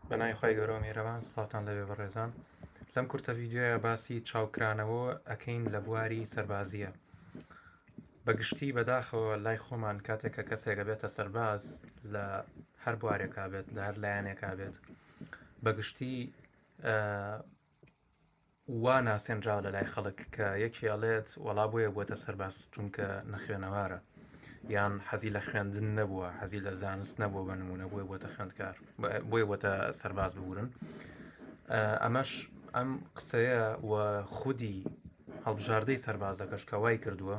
بەنای خی گەۆ میێرەوان سڵاتان لەوێ بەڕێزان لەم کورتە ڤیددیوە باسی چاوکرانەوە ئەەکەین لە بواری سەربازیە بەگشتی بەداخەوە لای خۆمان کاتێک کە کەسێکە بێتە سەرباز لە هەر بوارێکا بێت لە هەر لایەنێکا بێت بەگشتی وا ناسێنراوە لە لای خەڵک کە یەکێ ئەڵێت وەڵا بۆیە بووەتە سەرباز چونکە نەخوێنەوارە یان حەزی لە خوێندن نەبووە حەزی لە زانست نەبووە بە نمونە بۆیە بووەتە خوێندکار بۆیە بووەتە سەرباز ببورن ئەمەش ئەم قسەیە و خودی هەڵبژاردەی سەربازەکەش کە وای کردووە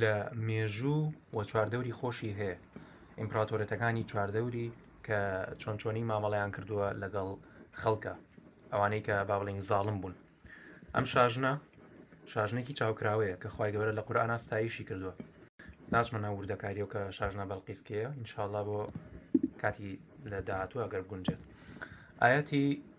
لە مێژوو و چواردەوری خۆشی هەیە ئیمپراتۆرێتەکانی چواردەوری کە چۆن چۆنی مامەڵیان کردووە لەگەڵ خەڵکە ئەوانەی کە با بڵین زاڵم بوون ئەم شاژنە شاژنێکی چاوکراوەیە کە خخوای گەورە لە قورآان ئاستایشی کردووە ناچمە ناو وردەکاریەوە کە شاژنە بەڵقیسکەیە انشاءله بۆ کاتی لە داهاتوو ئەگەر گونجێت ئاەتی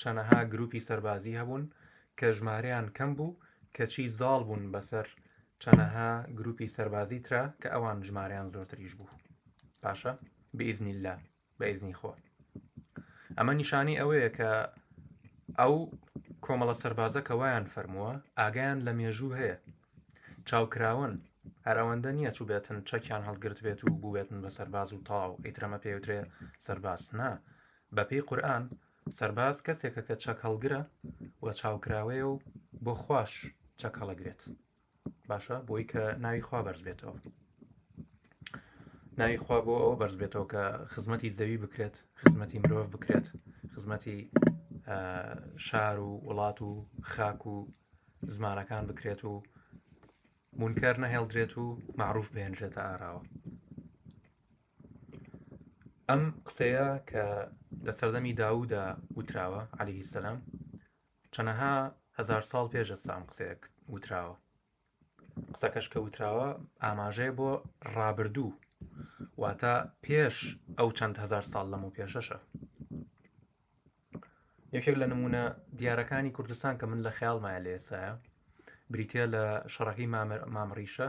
چەنەها گروپی سەربازی هەبوون کە ژمارەیان کەم بوو کەچی زاڵ بوون بەسەر چەنەها گروپی سەربازی ترا کە ئەوان ژمارەیان زۆرتریش بوو باشە بئیزنی لا بەئیزنی خۆ ئەمە نیشانی ئەوەیە کە ئەو کۆمەڵە سەربازە کە وایان فەرمووە ئاگیان لە مێژوو هەیە چاوکراون هەر ئەوەندە نییە چوو بێتن چەکیان هەڵگرت بێت و بووێتن بە سەرباز و تاو ئیترەمە پێوترێ سەرباز نا بە پێی قورئان سەرباز کەسێکە کە چەک هەڵگرە و چاوکراوەیە و بۆ خوش چەک هەڵەگرێت باشە بۆی کە ناوی خوا بەرز بێتەوە ناوی خوا بۆ ئەوە بەرز بێتەوە کە خزمەتی زەوی بکرێت خزمەتی مرۆڤ بکرێت خزمەتی شار و وڵات و خاک و زمانەکان بکرێت و مونکەر نەهێڵدرێت و معروف بهێنرێتە ئاراوە ئەم قسەیە کە لە سەردەمی داودا وتراوە عەلی سەسلام چەنەها هزار ساڵ پێش ئەسلام قسەیە وتراوە قسەکەش کە وتراوە ئاماژەیە بۆ ڕابردوو واتە پێش ئەو چەند هزار ساڵ لەم و پێشەشە یەکێک لە نمونە دیارەکانی کوردستان کە من لە خیاڵمایە لێسایە بریتە لە شەڕەکەی مامڕیشە